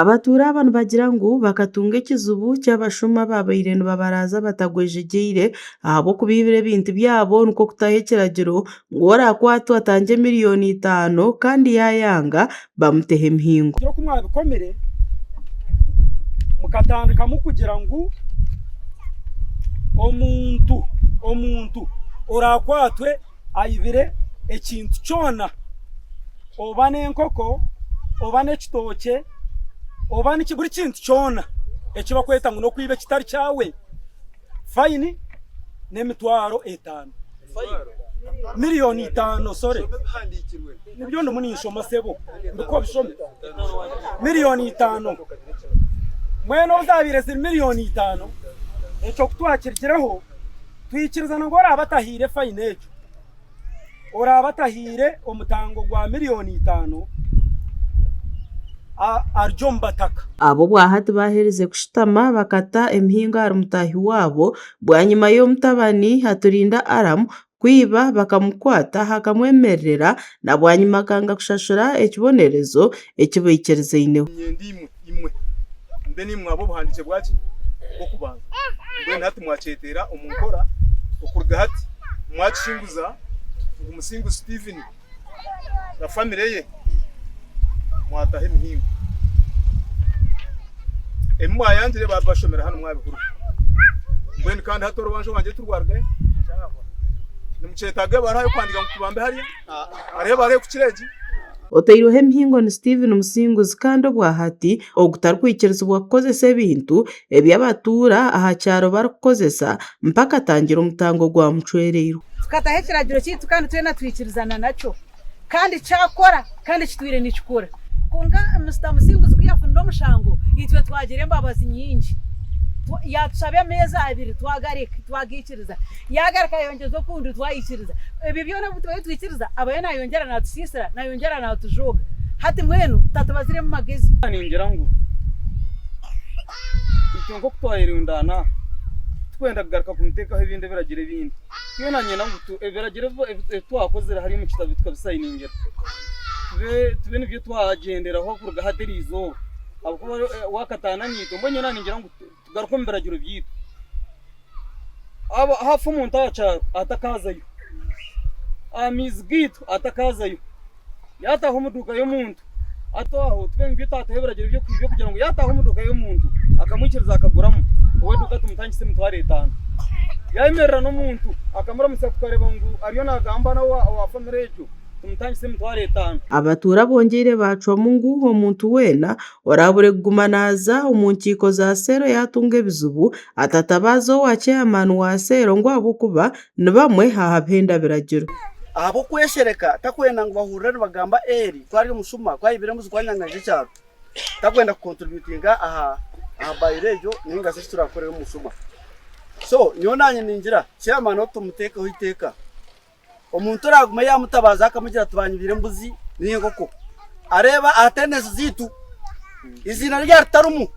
Abatuura aba nibagira ngu bakatunga ekizibu ky'abashuma abaabaire nibabaraaza batagwejegyeire ahabw'okubaibira ebintu byabo nikwo kutaho ekiragiro ngu ou oraakwatwa atange mirioni itaano kandi yaayanga bamuteho emihingo. Gye oku mwabikomire mukatandikamu kugira ngu omuntu oraakwatwe. aibire ekintu kyona, oba n'enkoko, oba n'ekitookye, oba niki, buri kintu kyona eki bakweta ngu n'okwiba ekitari kyawe, fayini n'emitwaro etaano. Miliyoni itaano, sorry. Nibyo ndimu ninshoma sebo. Ndikuha obishome. Miliyoni itaano. Mwena obu zaabaire ziri miliyoni itaano, ekyo ku twakirigireho, Twikiriza ngu oraabe atahaire faini egyo, oraabe atahaire omutango gwa milioni itaano ari omu bataka. Abo bwahati baaherize kushutama, bakata emihingo ahari mutaahi waabo. Bwanyima y'omutabani Haturinda Aram kwiba, bakamukwata, hakamwemererera, na bwanyima akanga kushashura ekibonerezo eki baikirizaineho. Niinyenda imwe, imwe, mbwenu imwe ab'obuhandiikye bwa ki? Bw'okubanza. Mbwenu hati mwakyeteera omu nkora okuruga hati, mwakishinguza ngu Musinguzi Stephen na famire ye mwataho emihingo. Ebi mwayangire baabibashomera hanu mwabihurira. Mbwenu kandi hati orubanja rwangye tirwarugayo. Nimukyetaaga ebara y'okuhandiika ngu tubambe harya? Hariho ebara ekukira egi? Otairweho emihingo ni Steven Musinguzi kandi obwa hati ogutarikwikirizibwa kukozesa ebintu ebi abatuura aha kyaro barikukozesa mpaka atangire omutango gwa mucwereirwe. Tukataho ekiragiro kyaitu kandi twena twikirizana nakyo. kandi kyakora kandi kitwire nikikora. Kwonka Mister Musinguzi ku yafunire omushango itwe twagira embabazi nyingi yatushaba emeeza abiri twagaikiriza yagaruka ayongyeza okundi twaikiriza. Ebyo byona ebi twabaire twaikiriza abayo nayongyera natusiisira nayongyera natujooga hati mbwenu tatubaziremu magezi. Ningira ngu itwe nk'oku twayerundaana aha tikwenda kugaruka kumuteekaho ebindi ebiragiro ebindi. Twena niinyenda ngu ebiragiro ebi twakozire hariya omu kitabu tukabisayiningira, tube nibyo twagyenderaho kuruga hati erizooba ahabw'okuba waakataana naitwe. Mbwenu nyowe naaningira ngu tugaruke omu biragiro byaitu. Haafa omuntu aha kyaro atakaazayo, aha maizi gaitu atakaazayo. yaataaha omu duuka y'omuntu, hati aho tube ngu by'otaataho ebiragiro by'okuhika kugira ngu yaataaha omu duuka y'omuntu akamwikiriza akaguramu, ow'eduuka tumutangisa emitwaro etaano. Yaayemerera n'omuntu akamuramutsya tukareba ngu ariyo naagamba na owa famire egyo tumutangisa emitwaro etaano. Abatuura bongyeire baacwamu ngu omuntu weena oraabure kuguma naaza omu nkiiko za seero yaatunga ebizibu, atatabaaze owa cheyamaani wa seero ngu ahabw'okuba ni bamwe aha bihenda ebiragiro. Ahabw'okweshereka, takwenda ngu bahurira nibagamba Eli ku ari omushuma, ku ayibire embuzi, ku anyanganyize ekyaro. Takwenda kukonturibyutinga aha bairo egyo nainga shi eki turaakukorere omushuma. So, nyowe naanye ningira, chairman ou tumuteekeho eiteeka. Omuntu oraagume yaamutabaaza akamugira ati baanyibire embuzi nainga enkoko, areeba aha attendance zaitu eiziina rye ritarimu.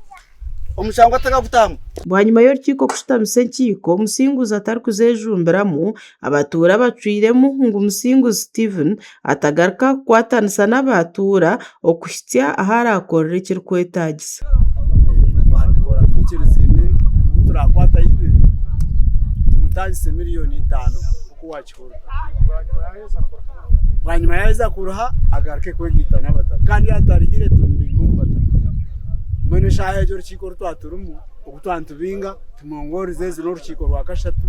omushango atakagutamu. Bwanyima y'orukiiko kushutamisa enkiiko Musinguzi atarikuzejumbiramu, abatuura bacwiremu ngu Musinguzi Stephen atagaruka kukwatanisa n'abatuura okuhitsya ahu araakorera ekirikwetaagisa. Twabikora twikiriziine obu turaakwata Yubire tumutaagise miriyoni itaano. bwanyima yaheza kuruha agaruke kwegaita n'abataka kandi yatarihire tumubinge omu bataka mbwenu eshaaha egyo orukiiko oru twaturimu ogu twanitubinga tumwongoorize ezi n'orukiiko rwa kashatu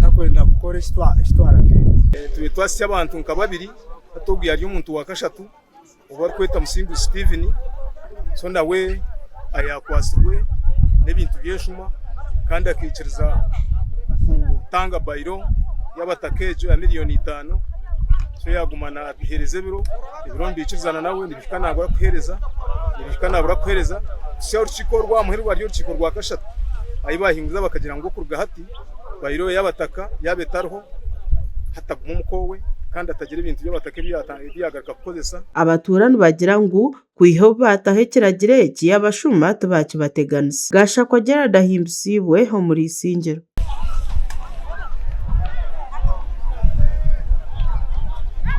takwenda kukora eki twaragiirwe twasi abantu nka babiri hati ogu yari omuntu wa kashatu ou barikweta Musinguzi Steven, so nawe ayakwatsirwe n'ebintu by'eshuma kandi akaikiriza kutanga bailo y'abataka egyo ya milioni itaano, so yaguma natuhereza ebiro, ebiro nibikirizana nawe nibihika nabura kuhereza, nibihika nabura kuhereza kuhisha orukiko oru rwamuha eribara ry'orukiko rwa kashatu ahi bahinguriza bakagira ngu kuruga hati bailo y'abataka yaba etariho hatagume omuka owe kandi atagira ebintu by'abataka ebi yatangira. Abatuura nibagira ngu kwiha obu baataho ekiragiro eki, abashuma tibaakibateganisa. Gashakwa Gerald ahimbisaibwe omuri Isingiro.